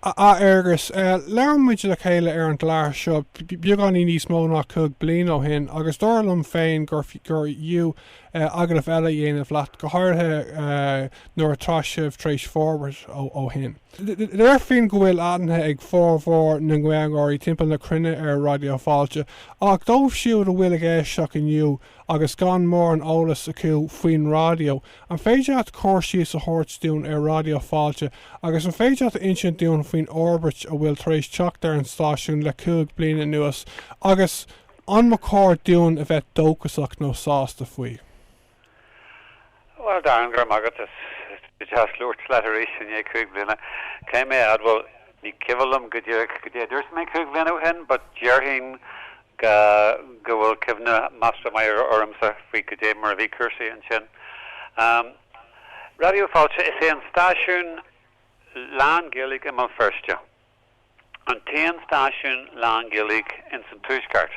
A Fhearghais, labhair muid le chéile ar an gclár seo beagáinín níos mó ná cúig bliana ó shin agus dar liom féin gurbh fhiú agallamh eile a dhéanamh leat, go háirithe nuair atá sibh tar éis forbairt ó shin. Déarfainn go bhfuil aithne ag formhór na nGaeilgeoirí timpeall na cruinne ar Raidió Fáilte, ach dóibh siúd a bhfuil ag éisteacht inniu agus gan mórán eolais acu faoin raidió, An féidir leat cur síos a thabhairt dúinn ar Raidió Fáilte agus an féidir leat a insint dúinn faoin fhorbairt a bhfuil tar éis teacht ar an stáisiún le cúig bliana anuas agus an mba chóir dúinn a bheith dóchasach nó sásta faoi? Bhuel, Darren, go raibh maith agat is deas labhairt leat arís i ndiaidh cúig bliana. Caithfidh mé a admháil Ní cuimhin liom go díreach goidé a dúirt mé cúig bhliana ó shin but déarfainn go bhfuil cuimhne measartha maith ar ormsa faoi goidé mar a bhí cúrsaí ansin. Raidió Fáilte, is é an stáisiún lán-Ghaeilge i mBéal Feirste an t-aon stáisiún lán-Ghaeilge ins an tuaisceart.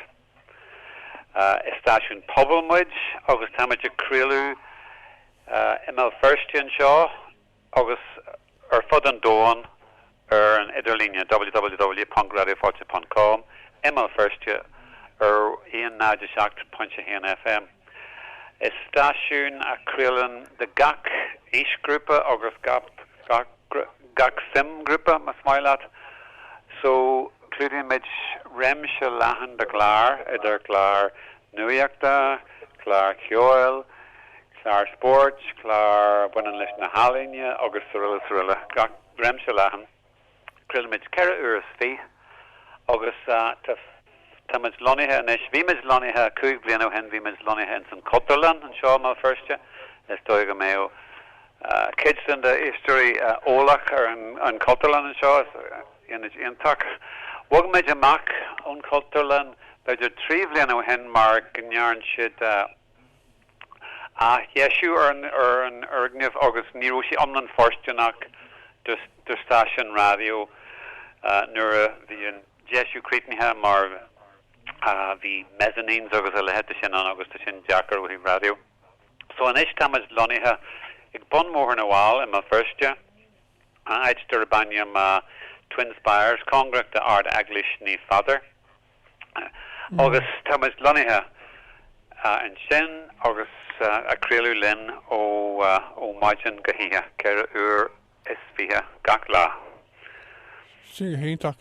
Is stáisiún pobail muid agus táimid ag craoladh i mBéal Feirste anseo agus ar fud an domhain ar an idirlíne, www.radiofailte.com, i mBéal Feirste ar 107.1 FM. Is stáisiún a chraolann do gach aoisghrúpa agus gach suimghrúpa, más maith leat, so clúdaímid réimse leathan de chláir, idir chláir nuachta, cláir cheoil, cláir spóirt, cláir a bhaineann leis na healaíne agus srl srl, gach réimse leathan. Craolaimid ceithre uair is fiche agus tá, tá muid lonnaithe anois, bhí muid lonnaithe cúig bliana ó shin, bhí muid lonnaithe ins an Chultúrlann anseo i mBéal Feirste, is dóigh go mbeadh cuid de do éisteoirí eolach ar an Chultúrlann anseo, Ionad iontach. Bhog muid amach ón Chultúrlann b'fhéidir trí bhliain ó shin mar go ndearn siad athdheisiú ar an fhoirgneamh agus ní raibh sé iomlán fóirsteanach do stáisiún raidió nuair a bhí an deisiú críochnaithe mar bhí mezzanines agus a leithéid de sin ann agus tá sin deacair ó thaobh raidió. So anois táimid lonnaithe ag bun Bhóthar na bhFál i mBéal Feirste. áit darb ainm Twin Spires, cóngarach d'Ard-Eaglais Naomh Peadar, agus tá muid lonnaithe ansin agus ag craoladh linn ó mhaidin go hoíche, ceithre uair is fiche gach lá. Tá sé go hiontach.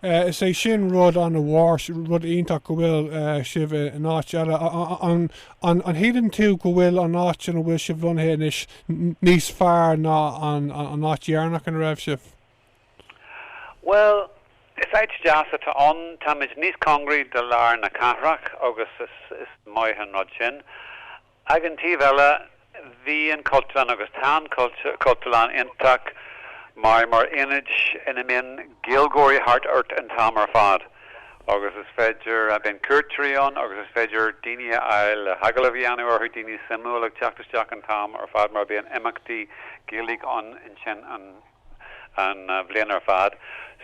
Is é sin rud an-mhór, rud iontach go bhfuil sibh in áit eile. An shíleann tú go bhfuil an áit ina bhfuil sibh lonnaithe anois níos fearr ná an áit dheireanach ina raibh sibh? Bhuel, is áit deas atá ann. Táimid níos cóngaraí do lár na cathrach agus is maith an rud sin. Ag an taobh eile, bhí an Cultúrlann agus tá an Cultúrlann iontach maith mar ionad ina mbíonn Gaeilgeoirí thart ort an t-am ar fad agus is féidir, bíonn cuairteoirí ann agus is féidir daoine a fháil le hagallaimh a dhéanamh orthu, daoine suimiúla ag teacht isteach an t-am ar fad mar bíonn imeachtaí Gaeilge ann ansin an bhliain ar fad.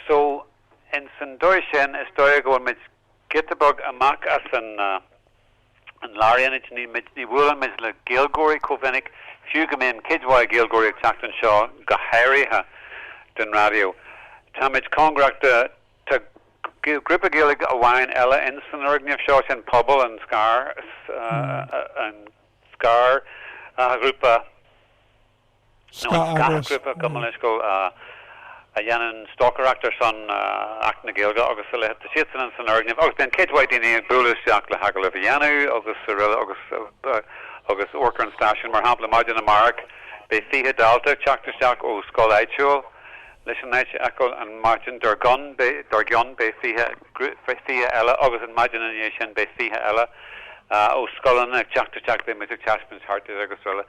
So, in san dóigh sin, is dóigh go bhfuil muid. Giota beag amach as an lárionad, ní bhuaileann muid le Gaeilgeoirí chomh minic, fiú go mbíonn cuid mhaith Gaeilgeoirí ag teacht anseo, go háirithe don raidió. Táimid cóngarach do, tá grúpa Gaeilge amháin eile ins an fhoirgneamh seo, sin Pobal, an scáth, an scáthghrúpa, nó an scáthghrúpa comhphobail scoile a dhéanann stocaireacht ar son Acht na Gaeilge agus a leithéid, tá siadsan ins an fhoirgneamh agus bíonn cuid mhaith daoine ag bualadh isteach le hagallaimh a dhéanamh agus aroile agus agus amharc ar an stáisiún, mar shampla maidin amárach beidh fiche dalta ag teacht isteach ó scoil áitiúil leis an áit a fheiceáil an mhaidin dár gcionn, beidh 20 eile agus an mhaidin ina dhiaidh sin beidh 20 eile ó scoileanna ag teacht isteach, beidh muid ag taispeáint thart dóibh agus srl.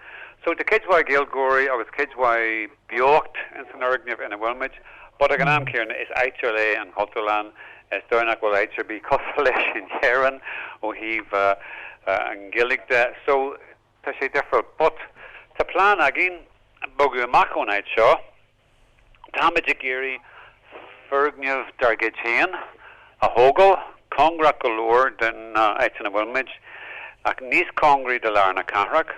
So tá cuid mhaith Gaeilgeoirí agus cuid mhaith beocht ins an fhoirgneamh ina bhfuil muid but ag an am céanna is áit ar leith an Chultúrlann, is dóigh nach bhfuil áit ar bith cosúil leis in Éirinn ó thaobh an Ghaeilge de so, Tá sé difriúil but tá plean againn bogadh amach ón áit seo. Táimid ag iarraidh foirgneamh dár gcuid féin a thógáil, cóngarach go leor don áit ina bhfuil muid, ach níos cóngaraí do lár na cathrach.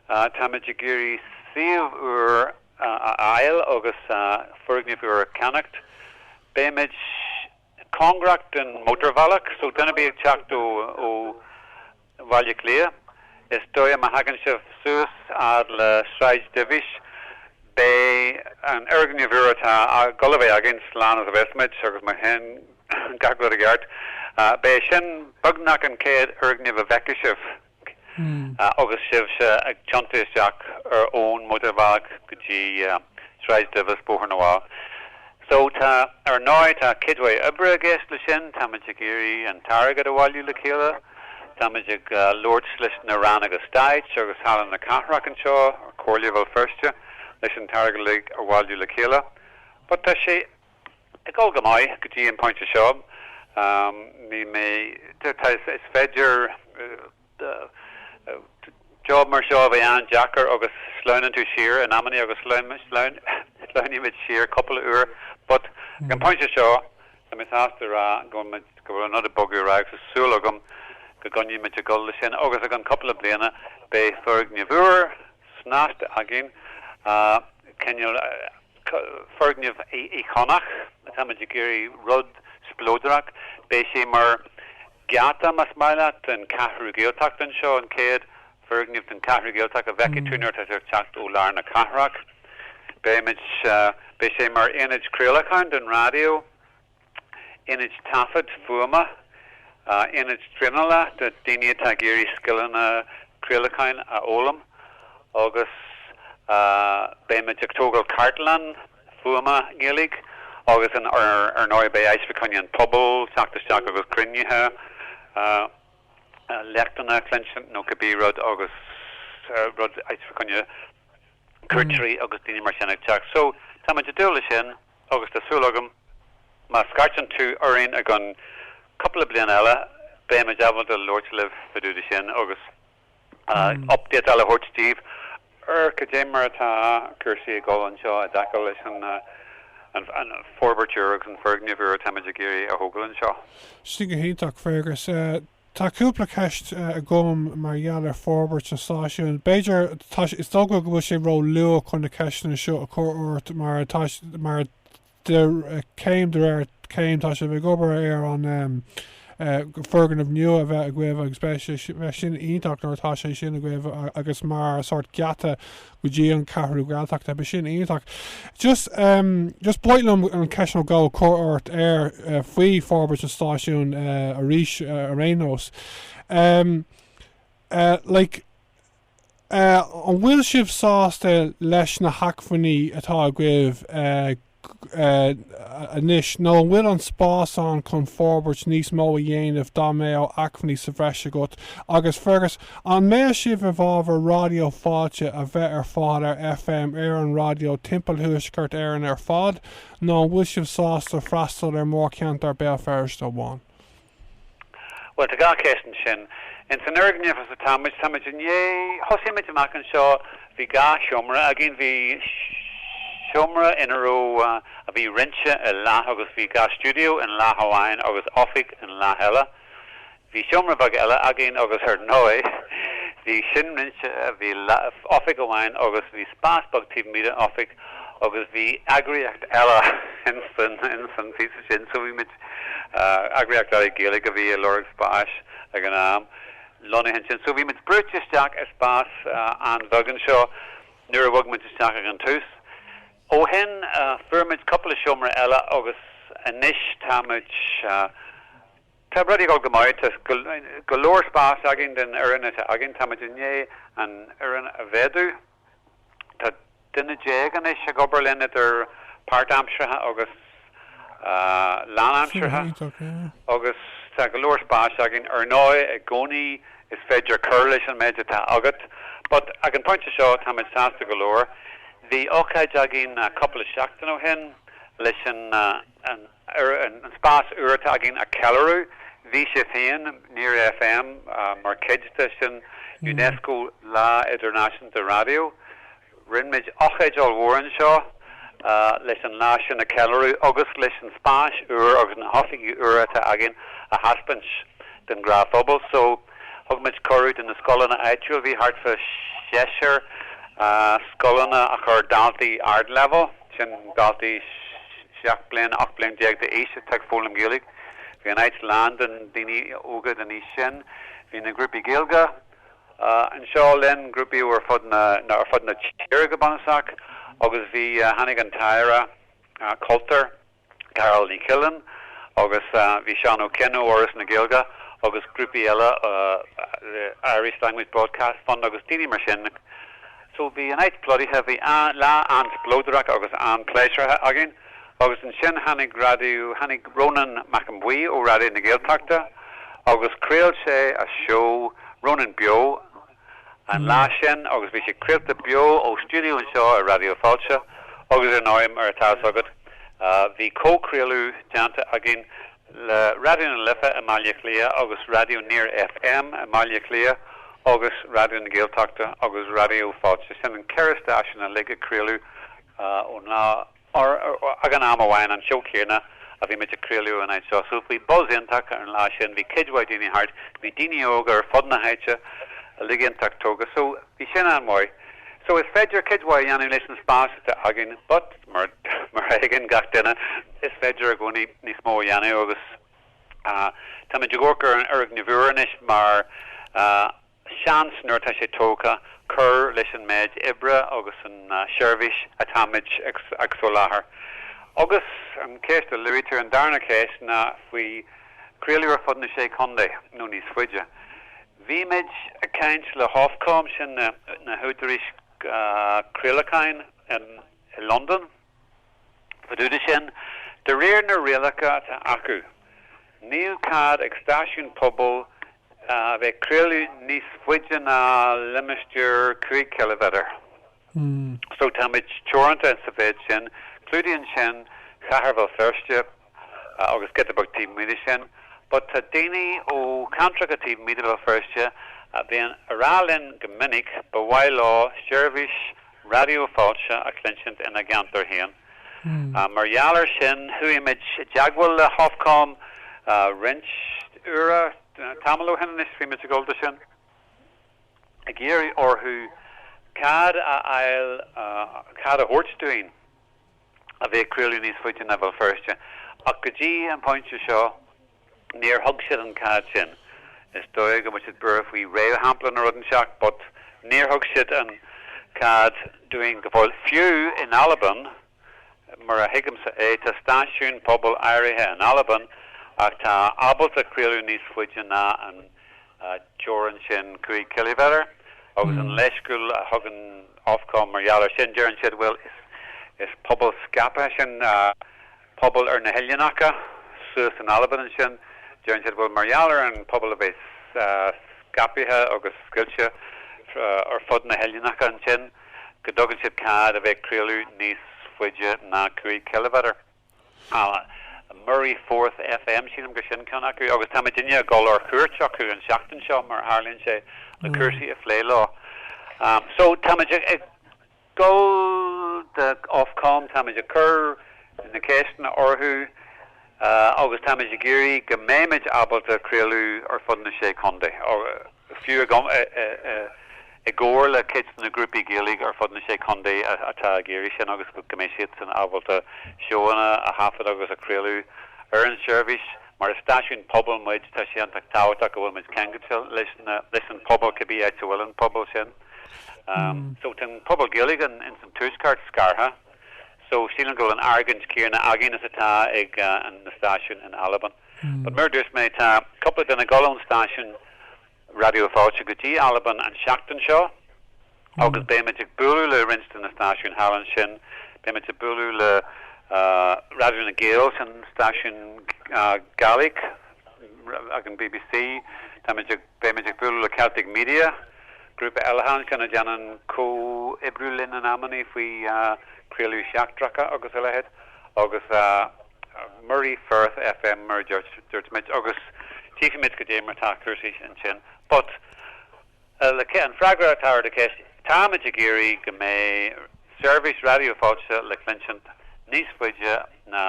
Táimid ag iarraidh suíomh úr a fháil agus foirgneamh úr a cheannacht. Beimid. cóngarach don mhótarbhealach so duine ar bith ag teacht ó Bhaile Átha Cliath is dóigh má thagann sibh suas fhad le Sráid Duibhis beidh an foirgneamh úr atá ag dul a bheith againn le cúnamh as a bheas muid agus má théann gach rud i gceart beidh sin beagnach an chéad fhoirgneamh a fheicfidh sibh. agus sibhse ag tiontú isteach ar ón mótarbhealach go dtí Sráid Duibhis, Bóthar na bhFál, so tá, ar ndóigh, tá cuid mhaith oibre i gceist leis sin, táimid ag iarraidh an t-airgead a bhailiú le chéile, táimid ag labhairt leis na Ranna Stáit agus Halla na Cathrach anseo, Comhairle Bhéal Feirste, leis an t-airgead uilig a bhailiú le chéile but tá sé. Ag dul go maith go dtí an pointe seo, ní mé, is féidir, job mar seo a bheith an-deacair agus sleamhnann tú siar in amannaí agus sleamhnaímid siar cúpla uair but ag an pointe seo tá mé sásta a rá go bhfuil muid, go bhfuil an rud ag bogadh ar aghaidh so tá súil agam go gcoinneoimid ag dul leis sin agus i gceann cúpla bliana beidh foirgneamh úr snasta againn, cineál. foirgneamh íocónach atáimid ag iarraidh rud spleodrach, beidh sé mar gheata, más maith leat, den Cheathrú Ghaeltacht anseo, an chéad foirgneamh den Cheathrú Ghaeltacht a fheicfidh tú nuair atá tú ag teacht ó lár na cathrach. Beimid, beidh sé mar ionad craolacháin don raidió. Ionad Taifeadta Fuaime, Ionad Traenála do dhaoine atá ag iarraidh scileanna craolacháin a fhoghlaim agus beimid ag tógáil Cartlann Fuaime Ghaeilge agus ar ndóigh beidh áit le coinne an phobail, teacht isteach agus cruinnithe, léachtanna a chluinstin nó cibé rud agus rud, áit le coinne cuairteoirí agus daoine mar sin ag teacht. So, táimid ag dúil leis sin. Agus tá súil agam, má scairteann tú orainn i gceann cúpla bliain eile, beimid ábalta labhairt libh fadúda sin agus update eile a thabhairt daoibh ar cad é mar atá cúrsaí ag dul anseo i dtaca leis an forbairt úr agus an foirgneamh úr atáimid ag iarraidh a thógáil anseo. Sin go hiontach, Fergus. Tá cúpla ceist agam mar gheall ar forbairt an stáisiúin. B'fhéidir, tá sé, is dócha go bhfuil sé ró luath chun na ceisteanna seo a chur ort mar tá, mar, céim de réir céim tá sibh ag obair ar an em, foirgneamh nua a bheith agaibh agus beidh, beidh sin iontach nuair atá sé sin agaibh agus mar sórt geata go dtí an Ceathrú Ghaeltachta. Beidh sin iontach. Just, em, just b'áil liom an cheist a chur ort ar, eh, faoi forbairt an stáisiúin, eh, arís, eh, ar aon nós. Em, eh, like, eh, an bhfuil sibh sásta leis na hacmhainní atá agaibh, eh, anois, nó an bhfuil an spás ann chun forbairt níos mó a dhéanamh, dá mbeadh acmhainní sa bhreis agat? Agus, Fergus, an mbeadh sibh i bhfábhar Raidió Fáilte a bheith ar fáil ar FM ar an raidió timpeall Thuaisceart Éireann ar fad, nó an bhfuil sibh sásta freastal ar mhórcheantar Bhéal Feirste amháin? Bhuel, tá gach ceist ansin. Ins an fhoirgneamh ina bhfuil muid, táimid i ndiaidh, thosaigh muid amach anseo, bhí dhá sheomra againn, bhí seomra ina raibh, a bhí roinnte i leath agus bhí dhá stiúideo in leath amháin agus oifig in leath eile. Bhí seomra beag eile againn agus ar ndóigh bhí sin roinnte, bhí oifig amháin agus bhí spás beag taobh amuigh den oifig agus bhí eagraíocht eile ins an phíosa sin so bhí muid, eagraíocht eile Gaeilge a bhí ag lorg spáis ag an am, lonnaithe ansin. So bhí muid brúite isteach i spás an-bheag anseo nuair a bhog muid isteach ag an tús. Ó shin fuair muid cúpla seomra eile agus anois tá muid, tá rudaí ag dul go maith, tá go leor spáis againn don fhoireann atá againn, tá muid i ndiaidh an fhoireann a mhéadú. Tá duine déag anois ag obair linn idir páirtaimseartha agus lánaimseartha agus tá go leor spáis againn. Ar ndóigh i gcónaí is féidir cur leis an méid atá agat but ag an phointe seo táimid sásta go leor. Bhí ócáid againn cúpla seachtain ó shin leis an an spás úr atá againn a cheiliúradh. Bhí sé féin, Near FM, mar chuid de sin, Unesco Lá Idirnáisiúnta Raidió. Rinne muid ocáid ollmhór anseo leis an lá sin a cheiliúradh agus leis an spás úr agus na hoifigí úra atá againn a thaispeáint don ghnáthphobal so. Thug muid cuireadh do na scoileanna áitiúla, bhí thart fá seisear scoileanna a chuir daltaí ardleibhéil, Sin daltaí seacht mbliana, ocht mbliana déag d'aois atá ag foghlaim Gaeilge. Bhí an áit lán de dhaoine óga den aois sin. Bhí na grúpaí Gaeilge anseo linn, grúpaí ó ar fud na tíre go bunúsach, agus bhí, tháinig an tAire Cultúir, Carál Ní Chuilín agus bhí Seán Ó Coinn ó Fhoras na Gaeilge agus grúpaí eile Irish Language Broadcast Fund agus daoine mar sin so bhí an áit plodaithe, bhí lá an-spleodrach agus an-pléisiúrtha againn agus ansin tháinig Raidió, tháinig Rónán Mac Aodha Bhuí ó Raidió na Gaeltachta agus chraol sé a seó Rónán Beo. an lá sin agus bhí sé craolta beo ó stiúideo anseo i Raidió Fáilte agus ar ndóigh, mar atá a fhios agat, bhí comhchraoladh déanta againn le Raidió na Life i mBaile Átha Cliath agus Raidió Near FM i mBaile Átha Cliath agus Raidió na Gaeltachta agus Raidió Fáilte, sin an ceithre stáisiún uilig ag craoladh ón lá. againn ag an am amháin, an seó céanna a bhí muid ag craoladh ón áit seo, so bhí buzz iontach ar an lá sin, bhí cuid mhaith daoine thart, bhí daoine óga ar fud na háite uilig iontach tógtha, so bhí sin an-mhaith. So is féidir cuid mhaith a dhéanamh leis an spás atá againn but mar a thuigeann gach duine, is féidir i gcónaí níos mó a dhéanamh agus táimid ag amharc ar an fhoirgneamh úr anois mar. Seans, nuair atá sé tógtha, cur leis an méid oibre agus an tseirbhís atáimid ag soláthar. Agus an cheist a luaitear, an darna cheist, ná faoi chraoladh ar fud na Sé Chontae nó níos faide. Bhí muid ag caint le hOfcom, sin na húdaráis chraolacháin i Londain, Fá dtaobh de sin, de réir na rialacha atá acu, níl cead ag stáisiún pobail a bheith ag craoladh níos faide ná limistéar cúig chiliméadar, so táimid teoranta sa mhéid sin. Clúdaíonn sin Cathair Bhéal Feirste. agus giota beag taobh amuigh de sin, but tá daoine ó cheantracha taobh amuigh de Bhéal Feirste a bhíonn ag rá linn go minic ba mhaith leo seirbhís Raidió Fáilte a chluinsint ina gceantar féin. Mar gheall ar sin, chuaigh muid i dteagmháil le hOfcom roinnt uaire, tamall ó shin anois, bhí muid ag gabháil de sin, ag iarraidh orthu cead a fháil cead a thabhairt dúinn a bheith ag craoladh níos faide ná Béal Feirste, ach go dtí an pointe seo níor thug siad an cead sin. Is dóigh go bhfuil siad buartha faoi réamhshampla nó rud inteacht, but níor thug siad an cead dúinn go fóill. Fiú in Albain, mar a thuigimse é, tá stáisiúin pobail áirithe in Albain atá ábalta craoladh níos faide ná an teorainn sin cúig chiliméadar agus an leithscéal a thugann Ofcom mar gheall air sin. Deireann siad, bhuel, is pobal scaipthe é sin, pobal ar na hoileánacha suas in Albain ansin. Deireann siad, bhuel, mar gheall ar an phobal a bheith scaipthe agus scoilte ar fud na hoileánacha ansin, go dtugann siad cead a bheith ag craoladh níos faide ná cúig chiliméadar. An Moray Firth FM, sílim gur sin ceann acu, agus táimid i ndiaidh dul ar cuairt acu an tseachtain seo, mar a tharlaíonn sé, le cúrsaí a phlé leo. So, táimid ag gabháil de Ofcom, táimid ag cur na ceisteanna orthu agus táimid ag iarraidh go mbeimid ábalta craoladh ar fud na Sé Chontae. fiú agam, i gcomhar le cuid de na grúpaí Gaeilge ar fud na Sé Chontae atá ag iarraidh sin agus go mbeidh siadsan ábalta seóanna a thaifeadadh agus a chraoladh ar an tseirbhís. Mar is stáisiún pobail muid, tá sé iontach tábhachtach go bhfuil muid ceangailte leis an bpobal, cibé áit a bhfuil an pobal sin. So, tá an pobal Gaeilge ins an tuaisceart scartha, so sílim go bhfuil an argóint céanna againn is atá ag na stáisiúin in Albain. But mar a dúirt mé, tá cúpla dínn ag gabháil ón stáisiún Raidió Fáilte go dtí Albain an seachtain seo agus beimid ag bualadh le roinnt de na stáisiúin thall ansin. Beimid ag bualadh le Raidió nan Gàidheal, an stáisiún Gàidhlig ag an BBC. Táimid ag, beimid ag bualadh le Celtic Media, grúpa eile thall ansin a dhéanann comhoibriú linn in amannaí faoi chraoltaí seachtracha agus a leithéid agus. Moray Firth FM mar a dúirt muid agus tchífimid cad é mar atá cúrsaí ansin. But, leis an fhreagra a thabhairt ar do cheist, táimid ag iarraidh go mbeidh seirbhís Raidió Fáilte le cluinsint níos faide ná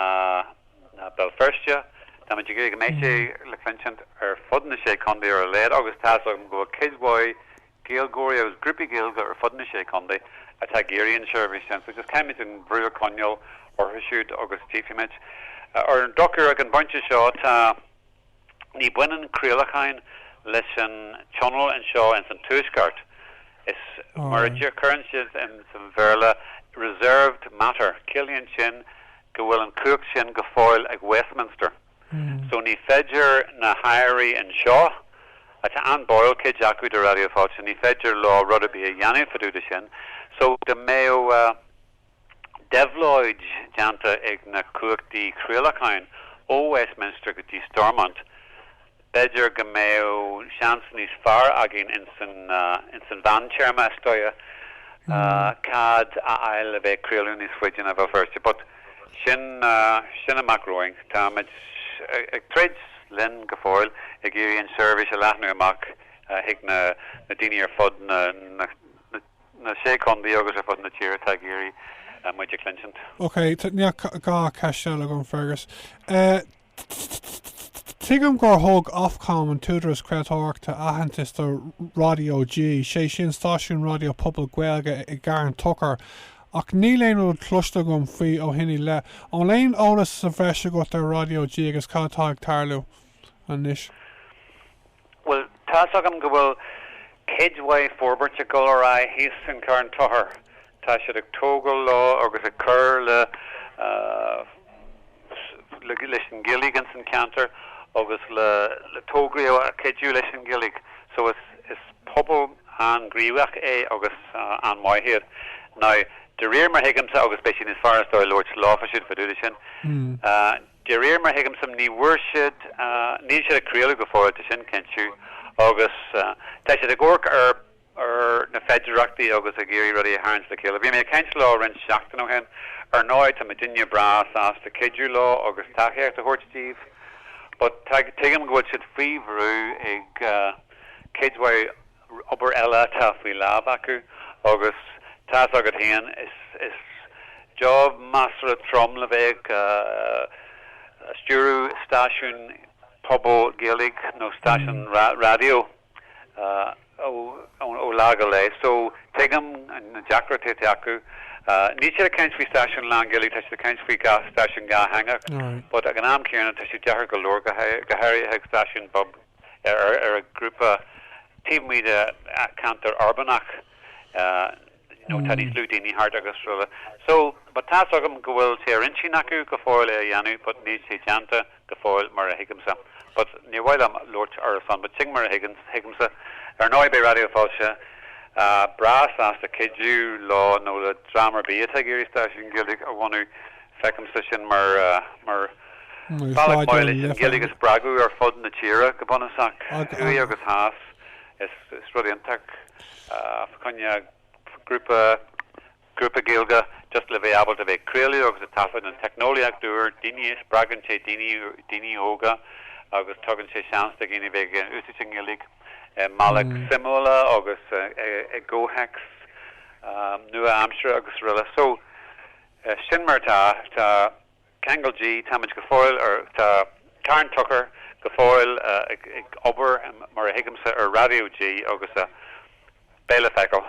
Béal Feirste. Táimid ag iarraidh go mbeidh sé le cluinsint ar fud na sé chontae ar a laghad agus tá's agam go bhfuil cuid mhaith Gaeilgeoirí agus grúpaí Gaeilge ar fud na sé contae atá ag iarraidh an tseirbhís sin, so just caithfimid an brú a choinneáil orthu siúd agus tchífimid. Ar an drochuair, ag an bpointe seo, tá, ní baineann craolacháin leis an Tionól anseo ins an Tuaisceart. Is mar a chuireann siad ins an Bhéarla, reserved matter. Ciallaíonn sin go bhfuil an chumhacht sin go fóill ag Westminster. so ní féidir na hairí anseo, atá an-bháúil cuid acu do Raidió Fáilte, ní féidir leo rud ar bith a dhéanamh fá dtaobh de sin, so dá mbeadh déabhlóid déanta ar na cumhachtaí craolacháin ó Westminster go dtí Stormont, B'fhéidir go mbeadh seans níos fearr againn ins an mheántéarma, is dóigh, cead a fháil le bheith ag craoladh níos faide ná Bhéal Feirste, but sin amach romhainn. Táimid ag troid linn go fóill ag iarraidh an tseirbhís a leathnú amach chuig na daoine ar fud na sé chontae agus ar fud na tíre atá ag iarraidh muid a chluinsint. OK, dhá cheist eile agam, Fergus. Tuigim gur thug Ofcom, an tÚdarás Craoltóireachta, aitheantas do Raidió G, sé sin stáisiún raidió pobail Gaeilge i gCarn Tóchair, ach níl aon rud cloiste agam faoi ó shin i leith. An bhfuil aon eolas sa bhreis agat ar Raidió G agus cad atá ag tarlú anois? Bhuel, tá's agam go bhfuil cuid mhaith forbairt ag dul ar aghaidh thíos i gCarn Tóchair. Tá siad ag tógáil leo agus ag cur le leis an Ghaeilge insan cheantar agus le tograí a chuideodh leis an Ghaeilge so is is pobal an-ghníomhach é agus an-mhaith iad. Now, de réir mar a thuigimse agus beidh sé níos fearr is dóigh labhairt leofa siúd fá dtaobh de sin, De réir mar a thuigimse, ní bhfuair siad, níl siad ag craoladh go fóill sin cinnte, agus tá siad ag amharc ar na féidearthachtaí agus ag iarraidh rudaí a tharraingt le chéile. Bhí mé ag caint leo roinnt seachtainí ó shin, ar ndóigh tá muidinne breá sásta cuidiú leo agus tacaíocht a thabhairt díobh, but tuigim go bhfuil siad faoi bhrú ag cuid mhaith. obair eile atá faoi lámh acu agus tá's agat féin, is job measartha trom le bheith ag stiúradh stáisiún pobail Gaeilge nó stáisiún raidió ó lá go lae so tuigim na deacrachtaí atá acu. Níl siad ag caint faoi stáisiún lánGhaeilge, tá siad ag caint faoi stáisiún dátheangach but ag an am céanna tá sé deacair go leor, go háirithe ag stáisiún pobail. ar an ghrúpa taobh amuigh de cheantar uirbeach nó tá níos lú daoine thart agus araile. So, but tá's agam go bhfuil sé ar intinn acu go fóill é a dhéanamh but níl sé déanta go fóill mar a thuigimse. But níor mhaith liom labhairt ar a son but sin mar a thuigimse. Ar ndóigh beidh Raidió Fáilte breá sásta cuidiú leo nó le dream ar bith atá ag iarraidh stáisiún Gaeilge a bhunú. Feicimse sin mar bhealach maith leis an Ghaeilge a spreagadh ar fud na tíre, go bunúsach, thuaidh agus theas. Is rud iontach fá choinne grúpa, grúpa Gaeilge just le bheith ábalta bheith ag craoladh agus ag taifead. An teicneolaíocht úr, daoine, spreagann sé daoine, daoine óga agus tugann sé seans do dhaoine bheith ag úsáid an Ghaeilge i mbealach suimiúil agus i gcomhthéacs nua-aimseartha agus rl. So. Eh, sin mar atá. Tá ceangal G, táimid go fóill ar, tá Carn Tóchair go fóill ag obair, mar a thuigimse, ar Raidió G agus beidh le feiceáil.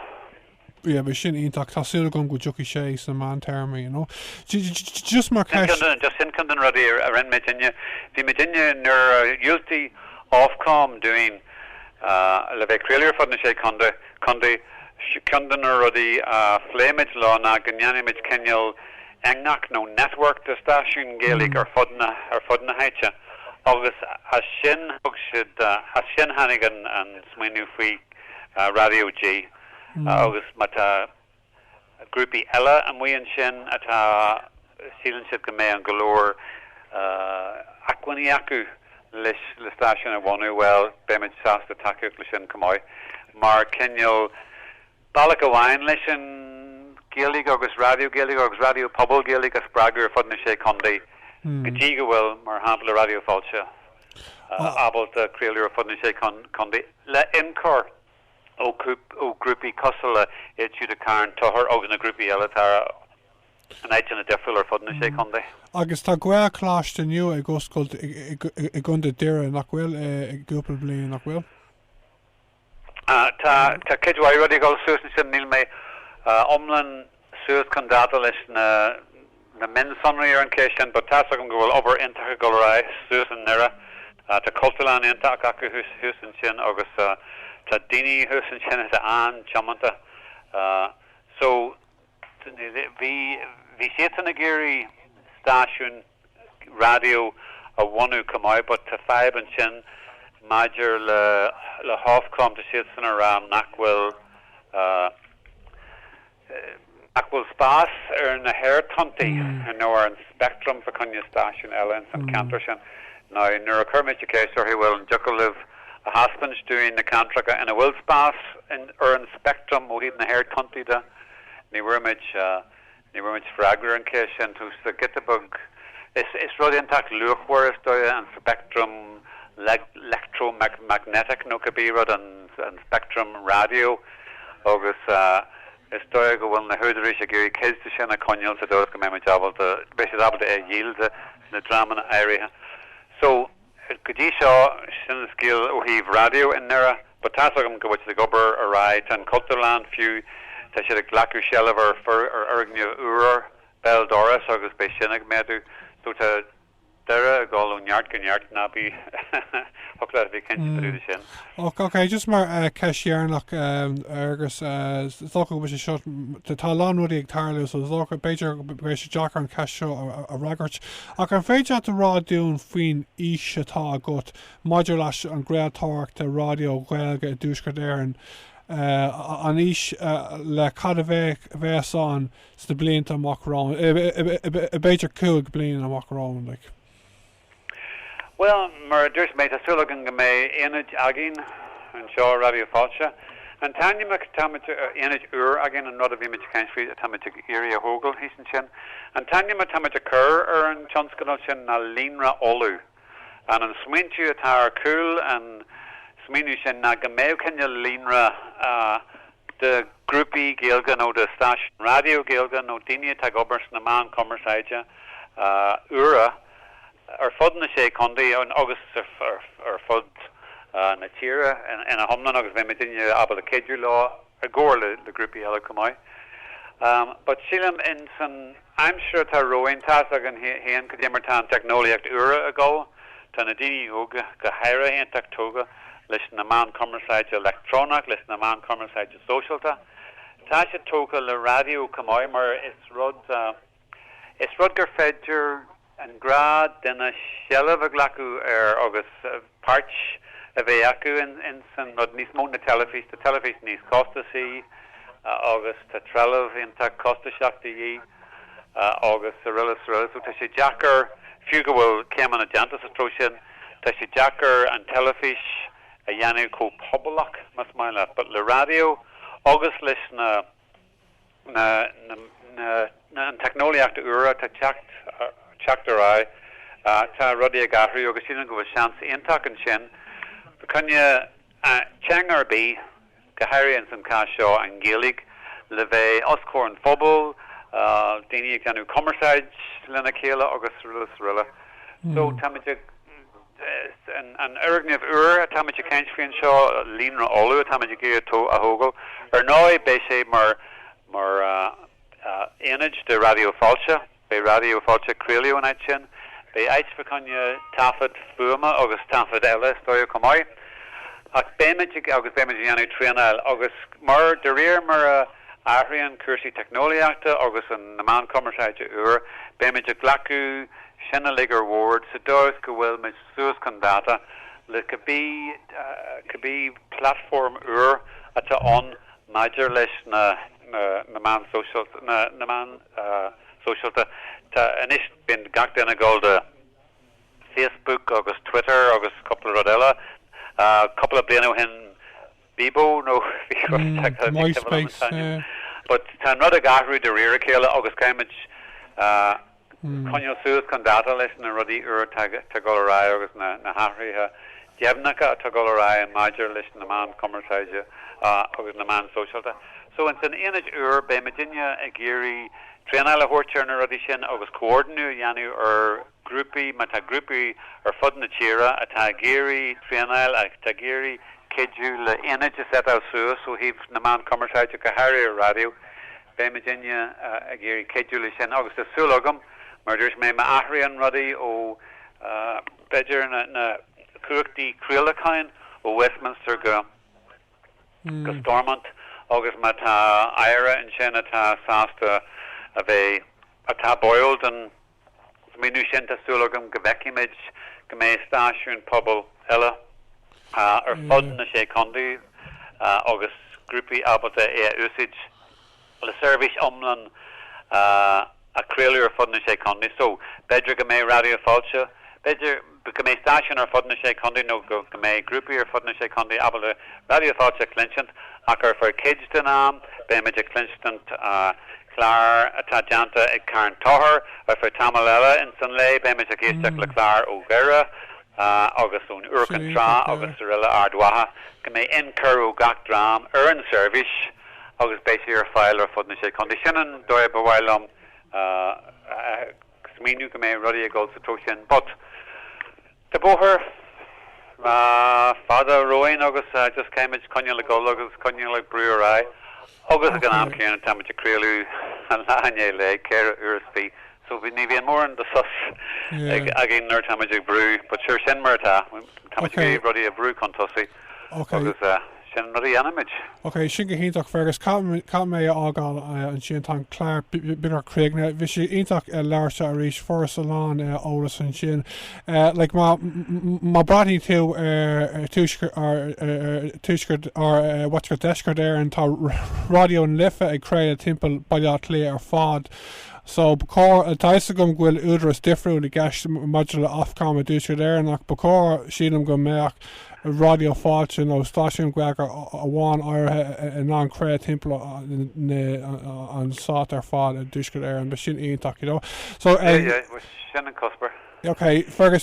Yeah, beidh sin iontach, tá súil agam go dtiocfaidh sé sna meántéarmaí, you know. Just mar, just sin ceann de na rudaí a rinne muidinne, bhí muidinne nuair a dhiúltaigh Ofcom dúinn le bheith ag craoladh ar fud na Sé Chontae, Co. Ceann de na rudaí a phléigh muid leo ná go ndéanfaimis cineál eangach nó network de stáisiúin Ghaeilge ar fud na háite agus as sin thug siad, as sin tháinig an smaoineamh faoi Raidió G agus má tá. grúpaí eile amuigh ansin atá, síleann siad go mbeidh an go leor acmhainní acu leis le stáisiún a bhunú, bhuel, beimid sásta tacaíocht leis sin chomh maith, mar cineál bealach amháin leis an Ghaeilge agus raidió Gaeilge agus raidió pobail Gaeilge a spreagadh ar fud na Sé Chontae, go dtí go bhfuil, mar shampla, Raidió Fáilte ábalta craoladh ar fud na Sé Chontae le ionchur. ó ghrúpaí cosúil le Carn Tóchair agus na grúpaí eile in áiteanna difriúla ar fud na sé chontae. Agus tá Gaelcholáiste nua ag oscailt i gContae Dhoire, nach bhfuil, i gcúpla bliain, nach bhfuil? Tá cuid mhaith rudaí ag dul suas ansin, níl mé iomlán suas chun dáta leis na mionsonraí ar an cheist sin. But tá's agam go bhfuil obair iontach ag dul ar aghaidh suas i nDoire. Tá Cultúrlann iontach acu thuas ansin agus tá daoine thuas ansin atá an-tiomanta. So, bhí siadsan ag iarraidh stáisiún. raidió a bhunú chomh maith but tá fadhb ansin maidir le le hOfcom, tá siadsan a rá nach bhfuil nach bhfuil spás ar na haerthonntaí, ar, nó ar an speictream fá choinne stáisiún eile ins an ceantar sin. Now nuair a chuir mise ceist orthu bhuel an dtiocfadh libh a thaispeaint dúinn na ceantracha ina bhfuil spás ar an speictream ó thaobh na haerthonntaí de, ní bhfuair muid Ní bhfuair muid freagra ar an cheist sin. Tá sé giota beag. Is rud iontach luachmhar, is dóigh, an speictream electromagnetic, nó cibé rud, an speictream raidió, agus is dóigh go bhfuil na húdaráis ag iarraidh cuid de sin a choinneáil sa dóigh is go mbeidh siad ábalta é a dhíol do na dreamanna áirithe seo. Go dtí seo, sin an scéal ó thaobh raidió i nDoire. But tá's agam go bhfuil siad ag obair ar aghaidh. Tá an Chultúrlann, fiú, tá siad ag glacadh seilbh ar fhoirgneamh úr béal dorais agus beidh sin ag méadú. So tá Doire ag dul ó neart go neart, ná bí buartha, bí cinnte de sin. Ok, just mar ceist dheireanach, agus is dócha go bhfuil sé seo, tá a lán rudaí ag tarlú so is dócha, b'fhéidir go mbeidh sé deacair an cheist seo a fhreagairt, Ach an féidir leat a rá dúinn faoin fhís atá agat maidir leis an gcraoltóireacht raidió Ghaeilge i dTuaisceart Éireann, an fhís le cad a bheidh ann sna blianta amach romhainn, b'fhéidir cúig bliana amach romhainn, like? Bhuel, mar a dúirt mé, tá súil againn go mbeidh ionad againn anseo i Raidió Fáilte. An t-ainm atáimid a aonad úr againn an rud a bhí muid ag caint faoi atáimid ag iarraidh a thógáil thíos ansin. An t-ainm atáimid a chur ar an tionscadal sin ná Líonra Uladh. An an smaointiú atá ar chúl an smaoineamh sin ná go mbeadh cineál líonra de ghrúpaí Gaeilge nó de stáisiúin raidió Gaeilge nó daoine atá ag obair sna meáin chumarsáide úra, ar fud na Sé Chontae agus ar fud na tíre ina hiomlán agus beidh muidinne ábalta cuidiú leo i gcomhar le grúpaí eile chomh maith. But sílim in san aimsir atá romhainn, tá's againn féin cad é mar tá an teicneolaíocht úr ag dul, tá na daoine óga go háirithe iontach tógtha leis na meáin cumarsáide leictreonach, leis na meáin cumarsáide sóisialta, tá siad tógtha le raidió chomh maith mar is rud. Is rud gur féidir an gnáthdhuine seilbh a ghlacadh air agus páirt a bheith acu ins an rud, níos mó ná teilifís, tá teilifís níos costasaí agus tá trealamh iontach costaiseach de dhíth agus araile is araile so tá sé deacair, fiú go bhfuil céimeanna déanta sa treo sin, tá sé deacair an teilifís a dhéanamh chomh pobalach, más maith leat, but le raidió agus leis na. na na an teicneolaíochta úra atá ag teacht ar aghaidh, tá rudaí ag athrú agus sílim go bhfuil seans iontach ansin fá choinne teanga ar bith, go háirithe ins an cás seo an Ghaeilge, le bheith os comhair an phobail, daoine ag déanamh cumarsáid lena chéile agus araile is araile. So táimid ag. An fhoirgneamh úr atáimid ag caint faoi anseo, Líonra Uladh, atáimid ag iarraidh a thógáil. Ar ndóigh, beidh sé mar aonad do Raidió Fáilte, beidh Raidió Fáilte ag craoladh ón áit sin. Beidh áit fá choinne taifead fuaime agus taifead eile, is dóigh, chomh maith. Ach beimid ag, agus beimid ag déanamh traenáil agus mar, de réir mar a, Athraíonn cúrsaí teicneolaíochta agus na meáin cumarsáide úr, beimid ag glacadh sin uilig ar bhord sa dóigh is go bhfuil muid suas chun dáta le cibé platform úr atá ann maidir leis na meáin sóisial na meáin sóisialta. Tá anois, bíonn gach duine ag gabháil do Facebook agus Twitter agus cúpla rud eile. Cúpla bliain ó shin. Bebo nó bhí rud deacair le ceapadh liom an t-ainm but tá an rud ag athrú de réir a chéile agus caithfimid coinneáil suas chun dáta leis na rudaí úr atá ag dul ar aghaidh agus na hathruithe deimhneacha atá ag dul ar aghaidh maidir leis na meáin cumarsáide agus na meáin sóisialta. So in san aonad úr beidh muidinne ag iarraidh traenáil a thabhairt ar na rudaí sin agus comhordnú a dhéanamh ar grúpaí, má tá grúpaí ar fud na tíre atá ag iarraidh traenáil, atá ag iarraidh cuidiú le aonaid a set-áil suas ó thaobh na meán cumarsáide, go háirithe ar raidió, beidh muidinne ag iarraidh cuidiú leis sin agus tá súil agam, mar a dúirt mé, má athraíonn rudaí ó, b'fhéidir, na cumhachtaí craolacháin ó Westminster go Stormont agus má tá aire ansin atá sásta a bheith, atá báúil don smaoineamh sin, tá súil agam go bhfeicfimid go mbeidh stáisiúin pobail eile ar fud na Sé Chondae agus grúpaí ábalta é a úsaíd le seirbhís iomlán a chraoladh ar fud na Sé Chondae. So, b'fheidir go mbeidh Raidió Fáilte, b'fheidir? go mbeidh stáisiúin ar fud na Sé Chontae nó go mbeidh grúpaí ar fud na Sé Chontae ábalta Raidió Fáilte a chluinsint ach ar feadh cuid den am beimid ag cluinstint clár atá déanta ag Carn Tochair, ar feadh tamaill eile ins an lae beimid ag éisteacht le cláir ó Dhoire agus ón Iúr, an tSrath agus aroile, Ard Mhacha, go mbeidh in-chur ó gach dream ar an seirbhís agus beidh sí ar fáil ar fud na Sé Chontae. Sin an dóigh ba mhaith liom a. smaoineamh go mbeidh rudaí ag dul sa treo sin but tá bóthar fada romhainn agus just caithfimid coinneáil ag dul agus coinneáil ag brú ar aghaidh agus ag an am céanna táimid ag craoladh an lá i ndiaidh lae, ceithre uair is fiche so bhí, ní bhíonn mórán de shos againn nuair atáimid ag brú but sure sin mar atá, táimid ag iarraidh rudaí a bhrú chun tosaigh. Ok. Agus sin rud a dhéanaimid. Ok, sin go hiontach, Fergus. Caithfidh mé a fhágáil ansin, tá an clár beagnach críochnaithe. Bhí sé iontach labhairt leat arís, fuaireas a lán eolas ansin. Like, má bhreathnaíonn tú ar tuaisceart, or what's called deisceart Éireann, tá Raidió na Life ag craoladh timpeall Baile Átha Cliath ar fad. So, ba chóir, tá 'fhios agam go bhfuil údaras difriúil i gceist maidir le Ofcom i dTuaisceart Éireann ach ba chóir, sílim, go mbeadh. Raidió Fáilte nó stáisiún Gaeilge amháin áirithe in ann craoladh timpeall an stát ar fad i dTuaisceart Éireann, bheadh sé sin iontach, you know. So, Yeah, yeah, bhuel, sin an cuspóir. OK, Fergus,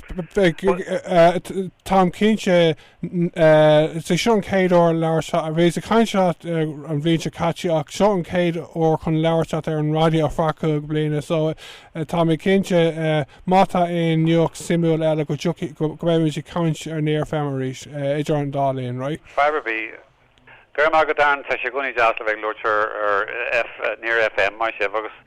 táim cinnte, is é seo an chéad uair a labhairt leat, bhíos ag caint leat an bhliain seo caite ach seo an chéad uair chun labhairt leat ar an raidió after cúig bliana so tá mé cinnte, Má tá aon nuacht suimiúil eile go dtiocfaidh, go mbeidh muid ag caint ar Near FM arís idir an dá linn, right? Fadhb ar bith. Go raibh maith agat, Darren, tá sé i gcónaí deas le bheith ag labhairt ar Near FM, maith sibh, agus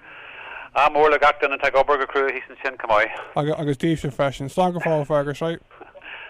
ádh mór le gach duine atá ag obair go crua thíos ansin, chomh maith. Agus daoibhse freisin. Slán go fóill, Fergus, right?